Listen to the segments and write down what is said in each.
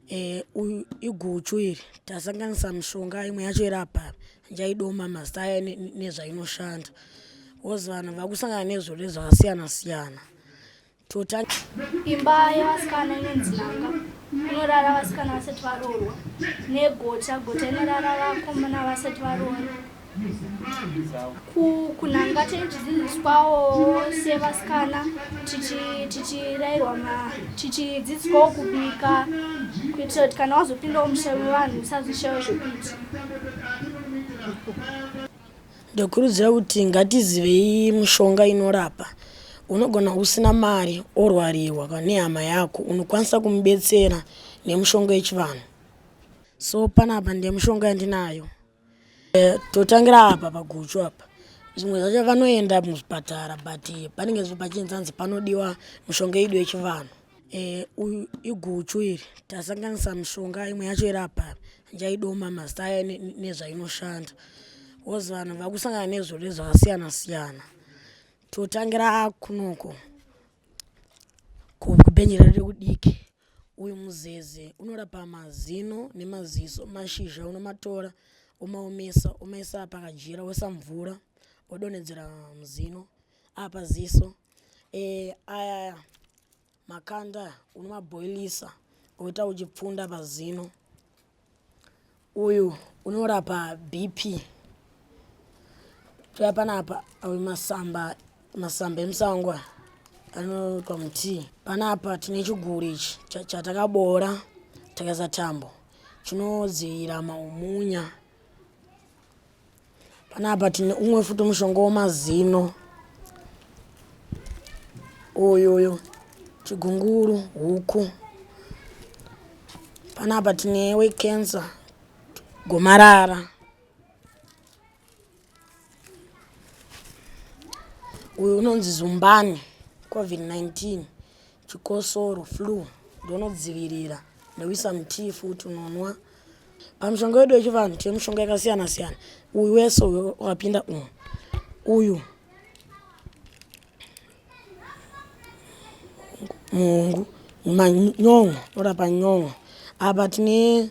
Eh, uyu iguchu iri tasanganisa mishonga imwe yacho iri apa njaidoma mazita aya ne- ne- nezvainoshanda wozi vanhu vakusangana nezvirwere zvakasiyana siyana totanga imba yevasikana inonzi nanga inorara vasikana vasati varoorwa negota gota inorara vakomana vasati varoorwa kunanga tinenge tichidzidziswawo sevasikana tichirairwa tichidzidziswawo kubika kuitira kuti kana wazopindawo musha wevanhu usazoshayo zvekuita ndokurudzira kuti ngatizivei mushonga inorapa unogona usina mari orwariwa nehama yako unokwanisa kumubetsera nemushonga yechivanhu so panapa ndemushonga yandinayo Eh, totangira apa paguchu apa zvimwe zvacho vanoenda muzvipatara but panenge pachinzanzi panodiwa mishonga yedu yechivanhu eh, uyu iguchu iri tasanganisa mishonga imwe yacho iri apa njaidoma mazita aya nezvainoshanda was vanhu vakusangana nezvirwere zvakasiyana siyana totangira kunoko kubhenji redu rekudiki Uyu muzeze unorapa mazino nemaziso. Mashizha unomatora omaomesa omaisa pakajira woisa mvura odonhedzera muzino apa ziso e, aya makanda unomabhoilisa oita uchipfunda pazino uyu unorapa bp toya panapa awe masamba masamba emusango aya anoitwa mutii panapa tine chiguri ichi chatakaboora takaisa tambo chinodzivirira maumunya Panapa tine umwe futi mushonga wemazino uyu uyu chigunguru huku panapa tine wecancer gomarara uyu unonzi zumbani covid-19 chikosoro flu ndonodzivirira nekuisa mutii futi unonwa pamushonga wedu wechivanhu tine mushonga yakasiyana siyana uyu wese wakapinda umu uyu muhungu manyon'o unorapa nyon'o apa tine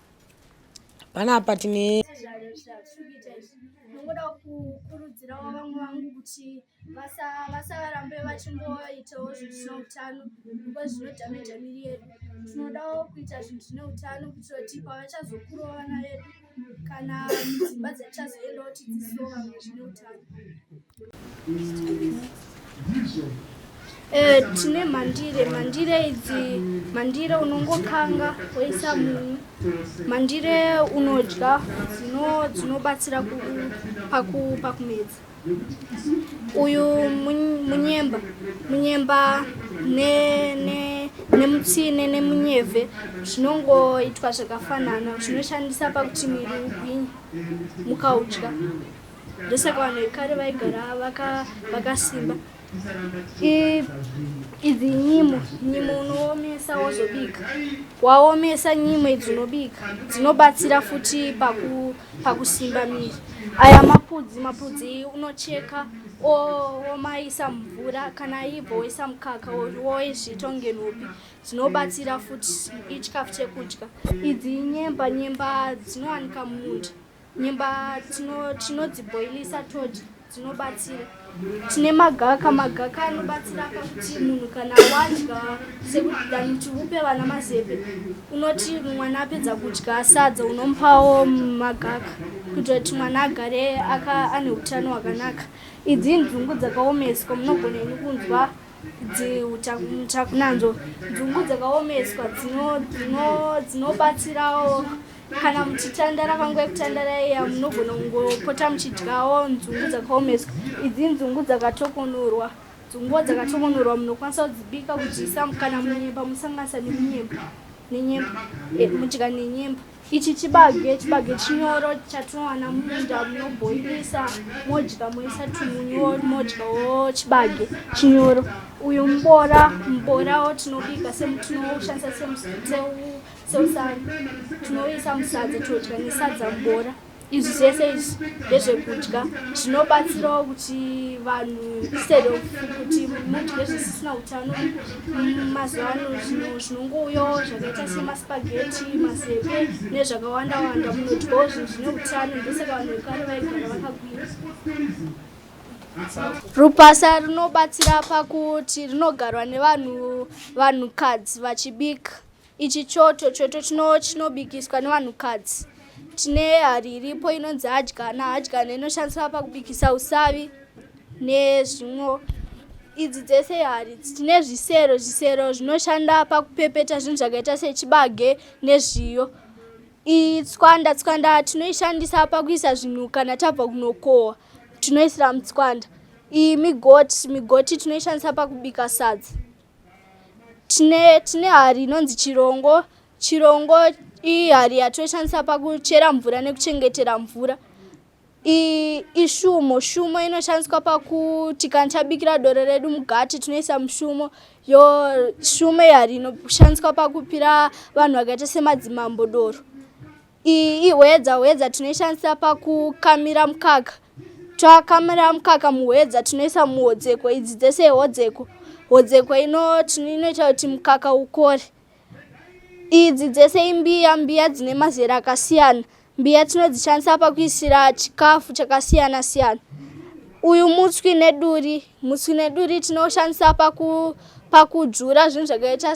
panapa tine ndingoda kukurudzirawo vamwe vangu kuti vasarambe vachingoitawo zvinhu zvine utano because zvinodhameja miri yedu tinodawo kuita zvinhu zvine utano kuitira kuti pavachazokura vana vedu kana dzimba dzatichazoendawo tidzisoa zvine utano Eh, tine mandire mandire idzi mandire unongokanga woisa munyu mandire unodya dzinobatsira pakumedza uyu munyemba munyemba nemutsine nemunyevhe zvinongoitwa zvakafanana zvinoshandisa pakuti miri ugwinye mukaudya ndosaka vanhu vekare vaigara vakasimba idzi nyimo nyimo unoomesa wozobika waomesa nyimo idzi unobika dzinobatsira futi pakusimba miri aya mapudzi mapudzi unocheka omaisa mumvura kana ibvo woisa mukaka woizviita kunge nhopi dzinobatsira futi ichikafu chekudya idzi nyemba nyemba dzinowanika mumunda Nyemba tinodzibhoilisa todya dzinobatsira. Tine magaka, magaka anobatsira pakuti munhu kana wadya sekuti than kuti upe vana mazepe, unoti mwana apedza kudya sadza unomupawo magaka kuitira kuti mwana agare ane utano hwakanaka. Idzi inzungu dzakaomeswa, munogona ini kunzwa muchakunanzvo. Nzungu dzakaomeswa dzinobatsirawo. kana muchitandara panguva yekutandara iya munogona kungopota muchidyawo nzungu dzakaomeswa idzi nzungu dzakatokonorwa nzungu dzakatokonorwa munokwanisa kudzibika kudziisa kana munyemba musanganisa nemunyemba nenyemba eh, mudya nenyemba ichi chibage chibage chinyoro chatinowana mumunda munobhoilisa modya moisa tumunyu modyawo chibage chinyoro uyu mubora muborawo tinobika semutinowoshandisa semuseu seusani tinoisa musadza todya nesadza mubora izvi zvese izvi ndezvekudya zvinobatsirawo kuti vanhu instead of kuti mudye zvisisina utano mazuva ano zvinongouyawo zvakaita semaspageti mazepe nezvakawanda wanda munodyawo zvinhu zvine utano ndosaka vanhu vekare vaigara vakagwira rupasa rinobatsira pakuti rinogarwa nevanhu vanhukadzi vachibika Ichi choto choto chinobikiswa nevanhukadzi. Tine hari iripo inonzi hadyana. Hadyana inoshandiswa pakubikisa usavi nezvimwo. Idzi dzese hari dzine zvisero. Zvisero zvinoshanda pakupepeta zvinhu zvakaita sechibage nezviyo. Iyi tswanda, tswanda tinoishandisa pakuisa zvinhu kana tabva kunokohwa. Tinoisira mutswanda. Iyi migoti, migoti tinoishandisa pakubika sadza. tine tine hari inonzi chirongo chirongo iyi hari yatoshandisa pakuchera mvura nekuchengetera mvura ishumo shumo inoshandiswa pakuti kana tabikira doro redu mugati tinoisa mushumo yo shumo yehari inoshandiswa pakupira vanhu vakaita semadzimambo doro Iyi ihwedza, hwedza tinoishandisa pakukamira mukaka. Takamira mukaka muhwedza tinoisa muhodzeko, idzi dzese ihodzeko. Hodzeko ino inoita kuti mukaka ukore. Idzi dzese imbiya, mbiya dzine mazera akasiyana. Mbiya tinodzishandisa pakuisira chikafu chakasiyana siyana. Uyu mutswi neduri, mutswi neduri tinoshandisa paku pakudzvura zvinhu zvakaita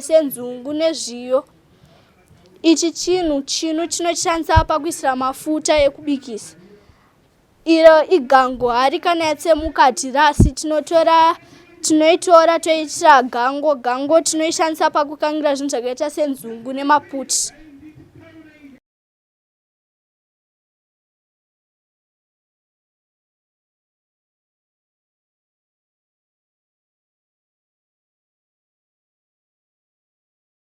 senzungu nezviyo. ichi chinhu chinu chinoshandisa pakuisira mafuta ekubikisa iro igango hari kana yatsemuka hatirasi tinotora tinoitora toiitira gango gango tinoishandisa pakukangira zvinhu zvakaita senzungu nemaputi